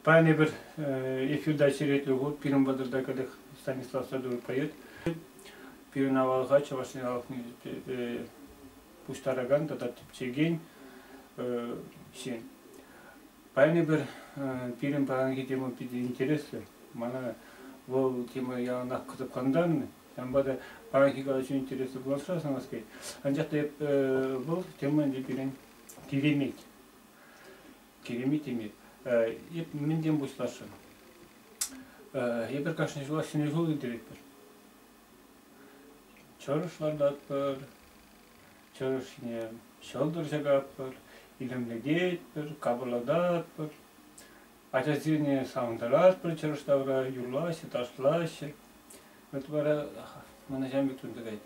Паян эпир эфирта черетлӗ хут пирӗн патӑрта кӗтӗх Станислав Садуров поет. Пирӗн авалха Чӑваш Ен халӑхне пуҫтаракан тата тӗпчекен ҫын. Паян эпир пирӗн паянхи тема питӗ интереслӗ. Мана вӑл тема яланах кӑсӑклантарнӑ. Ҫавӑнпа та паянхи калаҫу интереслӗ пуласса сӑнас килет. Анчах та эп, вӑл тема ӗнтӗ пирӗн киремет. Киремет теме. Эп мӗнтен пуҫласшӑн? Эпир кашни ҫулах ҫӗнӗ ҫул илтеретпӗр. Чӑрӑш лартатпӑр, чӑрӑшне ҫӑлтӑр ҫакатпӑр, илемлететпӗр, капӑрлататпӑр. Ачасене савӑнтаратпӑр, чӑрӑш тавра юрлаҫҫӗ, ташлаҫҫӗ. Вот вара мана ҫам пек тунтарать.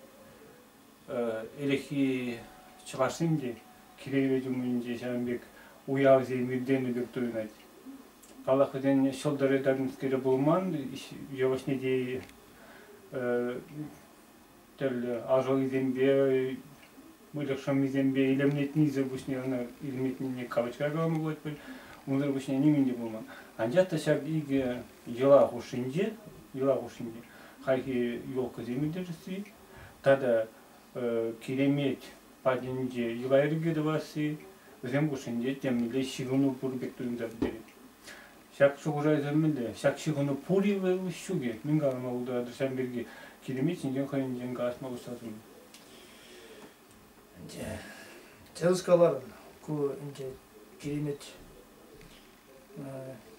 Ӗлӗкхи чӑвашсем те киревет умӗнче ҫавӑн пек уявсем иртенӗ пек туйӑнать. Паллах, вӗсен ҫӑлтӑрӗ тӗрнӗскере пулман, йывӑҫне те тӗрлӗ ашӑллисемпе, выльӑх шӑммисемпе илемлетнисӗр пуҫне ӑна илемлетнине калачра калама пулать пуль. Унсӑр пуҫне нимӗн те пулман. Анчах та ҫак икӗ йӑла хушшинче, йӑла хушшинче хайхи елкӑсем ирттересси тата киремет патӗнче йӑла-йӗрке тӑвасси, вӗсем хушшинче темле ҫыхӑну пур пек туйӑнса пӗтерет. Ҫак шухӑшайсем мӗнле? Ҫак ҫыхӑну пур-и вӑл? Ҫукӗ. Мӗн калама пултаратӑр ҫавӑн пирки? Киремет ҫинчен хӑйӗнчен калаҫма пуҫлатӑн. Ӗнтӗ тӗрӗс калар, ку ӗнтӗ киремет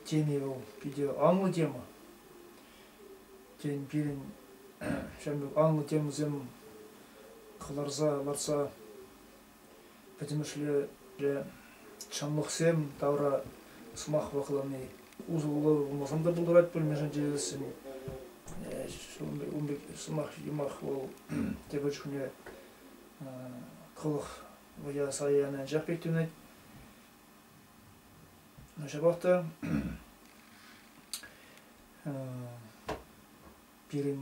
теми вӑл питӗ анлӑ тема. Тен, пирӗн ҫавӑн пек анлӑ темӑсем кӑларса лартса Пӗтӗмӗшле ҫамрӑксем тавра сӑмах ваклани, усӑллӑ пулмасан та пултарать пӗлмешен чечеклессӗн. Ун пек сӑмах, юмах вӑл тепӗр чухне кӑлӑх вӑя сарӗ яни анчах пек тӳнет. Ҫапах та пирӗн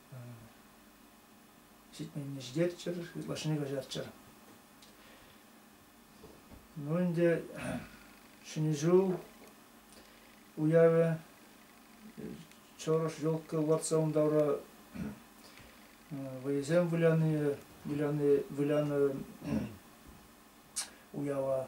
ҫитменнештерччӗр, ытлашшине каҫарччӑр. Ну ӗнтӗ Ҫӗнӗ ҫул уявӗ Чӑрӑш елка лартса ун тавра вӑйӑсем выляни, выляни, вылянӑ уява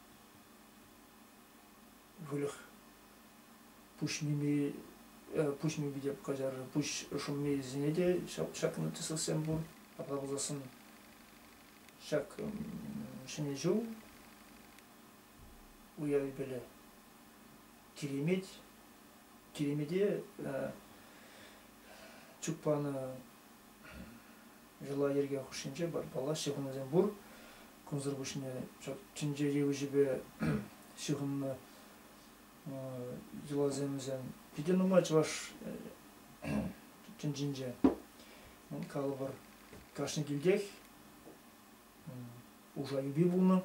выльӑх пуҫними пуҫними те каҫар пуҫ шӑммисене те ҫак ҫак нотисовсем пур апла пулсассӑн ҫак ҫӗнӗ ҫул уявӗпеле киремет киремете чуппана йӑла-йӗрке хушшинче барбалла ҫыхӑнусем пур Кунсӑр пуҫне ҫак тӗнчери уҫӑпе ҫыхӑннӑ йӑласемсем питӗ нумай чӑваш тӗнчинче. Калӑпӑр, кашни килтех Уша юпи пулнӑ.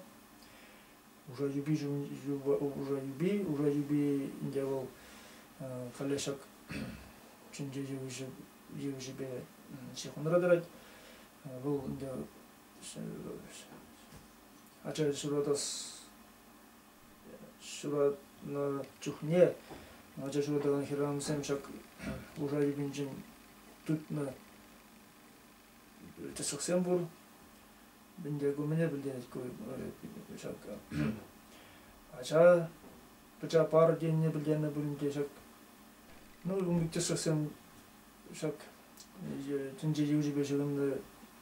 Уша юпи Уша юпи Уша юпи ӗнтӗ вӑл халӗ ҫак тӗнче йывӑҫӗпе ҫыхӑнра тӑрать. Вӑл ӗнтӗ ача ҫуратас ҫуратнӑ чухне ача ҫуратакан хӗрарӑмсем ҫак луша йӗпинчен тытнӑ тӗслӗхсем пур. Мӗнле ку мӗне пӗлтерет ку ҫак ача пӑча пар тенине пӗлтернӗ пулин те ҫак ну ун пек тӗслӗхсем ҫак тӗнче йывӑҫӗпе ҫыхӑннӑ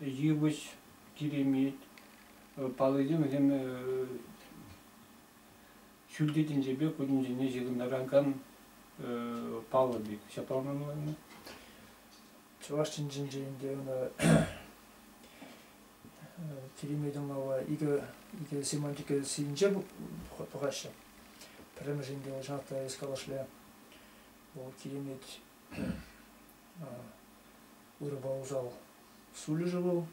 йывӑҫ киремет, паллисем вӗсем ҫӳлти тӗнчепе ку тӗнчене ҫыхӑнтаракан паллӑ пек. Ҫапла мӑнланнӑ. Чӑваш тӗнчинче ӗнтӗ ӑна киремет ӑмлава икӗ, икӗ семантика сийӗнче тухаҫҫӗ. Пӗрремӗш ӗнтӗ Шахта Эскалашле. Вӑл киремет ырӑпа усал сулӗшӗ вӑл.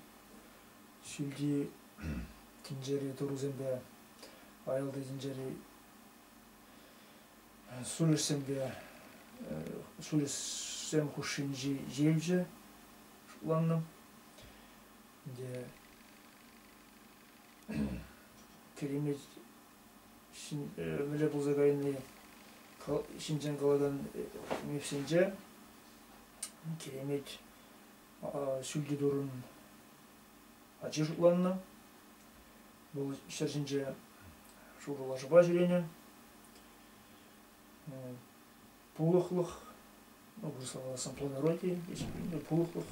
Ҫӳлти тӗнчери турусемпе аялти тӗнчери сулӗшсемпе сулӗшсем хушшинчи ҫивче шутланнӑ. Ӗнтӗ Керемет пӗрле пулса кайни ҫинчен калакан мессенджер Киремет ҫӳлти турӑн ачи шутланнӑ. Вӑл ҫӗр ҫинче шурӑ лашапа ҫӳренӗ. Пулӑхлӑх, ну, вырӑсла сампланороти, пулӑхлӑх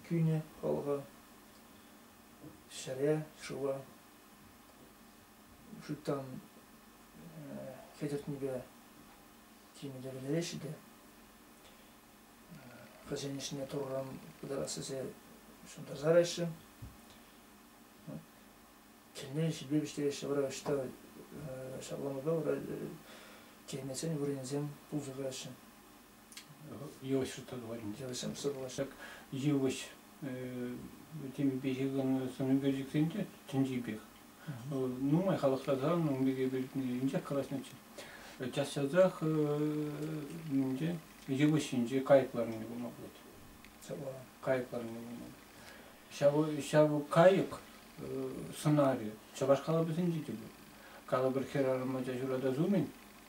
кӳнӗ халӑха. Ҫӗре, шыва шуйттан хӗтӗртнипе тимлемеллеҫҫӗ те хӑйсен ӗҫне Турран пытарас тесе ҫунтарса лараҫҫӗ. Килне ҫипе вӗҫтереҫҫӗ, вара ӑҫта ҫакланупа вара теймесен вырӑнсем пулса каҫҫӗ. Йывӑҫҫӑ тӑварӗнче сӑпсӑрлашак йывӑҫ темипе ҫыхӑннӑ сӑнӳкерчӗксен те тӗнчи пек. Нумай халӑхласан ун пирки пӗлнӗ калаҫнӑччӗ. Час-часах инже йывӑҫ ҫинче кайӑк ларнине курма пулать. Кайӑк ларнине курма пулать. Ҫав кайӑк сӑнарӗ чӑваш калӑпӗсенче те пур. Калӑпӑр хӗрарӑм ача ҫуратас умӗн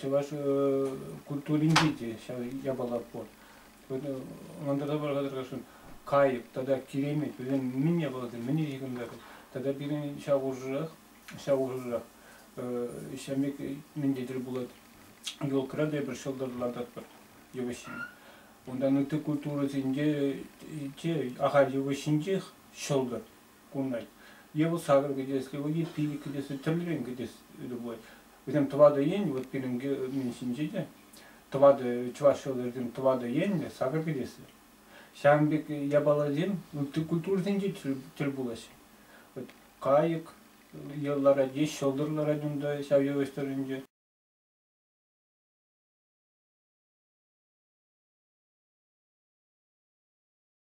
чӑваш культуринче те ҫав япала пур. Ӑнтарса пырса тӑрасшӑн кайӑк тата киремет вӗсем мӗн япаласем мӗн ҫыхӑнтарать тата пирӗн ҫав хушӑрах ҫав хушӑрах ҫав пек мӗнде тӗл пулать елкӑра та эпир ҫӑлтӑр лартатпӑр йывӑҫҫине унтан ытти культурӑсенче те ахаль йывӑҫҫинчех ҫӑлтӑр кунӑн. Е вӑл сакӑр кӗтес, е пилӗк кӗтес, тӗрлӗрен кӗтес любой. Вӗсем тӑватӑ ен, вот пирӗнки мӗн ҫинче те, тӑватӑ, чӑваш ҫӑлтӑрӗсем тӑватӑ енлӗ сакӑр кӗтеслӗ. Ҫавӑн пек япаласем ытти культурӑсенче тӗл пулаҫҫӗ. Вот кайӑк ларать, е ҫӑлтӑр ларать унта ҫав йывӑҫ тӑрӑхӗнче.